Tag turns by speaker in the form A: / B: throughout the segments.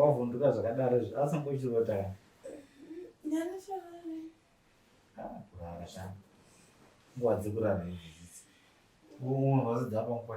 A: wavhunduka zvakadaro izvi asi mbochirota kurara sha nguva dzekurara izvi dzidzi unhu vazidza panguva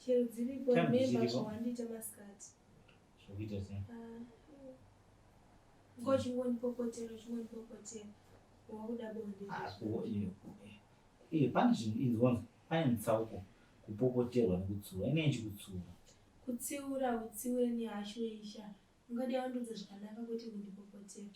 B: Chero dziripo remember zvawandiita masikati. Zvokuita
A: sei? Ah, Ngo
B: chingondipopotera chingondipopotera. Wakuda bonde. Ah, eh,
A: pane zvinhu inzwanzi pane mutsauko kupopoterwa nekutsiura inei chikutsiura kutsiura
B: utsiure nehashu yeisha ungadi aundudza zvakanaka kuti kundipopotera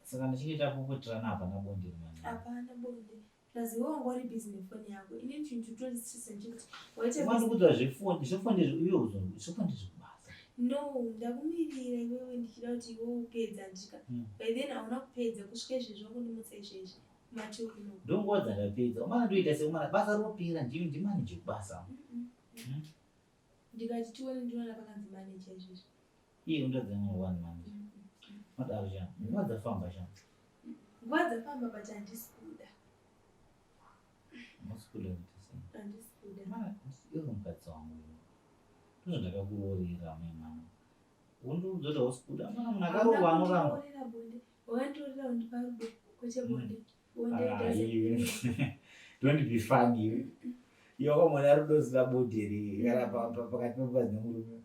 A: saka ndichinge tapopoterana hapana bonde rimana hapana bonde
B: Ndaziva wanga uri busy nefoni yako. Ini chinhu chiri kutondistresa ndechekuti waita busy. Wandikudzwa
A: zvefoni, zvefoni izvo iwe uzongo, zvefoni izvo kubasa. No,
B: ndakumirira iwewe ndichida kuti iwe upedza ndika. Hmm. By then hauna kupedza kusvika izvezvi wakundimutsa izvezvi. Mati uno. Ndongoza ndapedza.
A: Umana ndoita seumana basa ropera ndimi ndimanije kubasa. Mm -mm. Mm.
B: Ndikati tione ndinoona pakanzi manager izvozvo. Iye unotadza
A: nyaya one manager. Madaro sha. Nguva dzafamba sha. Nguva
B: dzafamba but handisi kuda.
A: Handisi kuda kuti sei? Handisi kuda.
B: Mara iwe
A: mukadzi wangu. Ndizvo ndakakuroorera mai mama. Undiudza kuti hausi kuda. Mwana munhu akaroorwa anoramba.
B: Wakanditorera undipa rudo kwete bonde. don't
A: be funny iwe wakamona ari unoziva bodi here kana pakati pemukadzi nemurume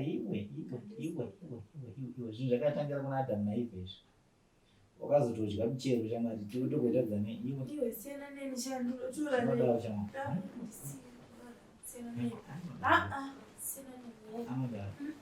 A: iwe iwe iwe iwe iwe zvinhu zvakatangira kuna adamu naive izvi wakazotodya michero chamari tokuitadza nei iwe
B: anodaro chama anodaro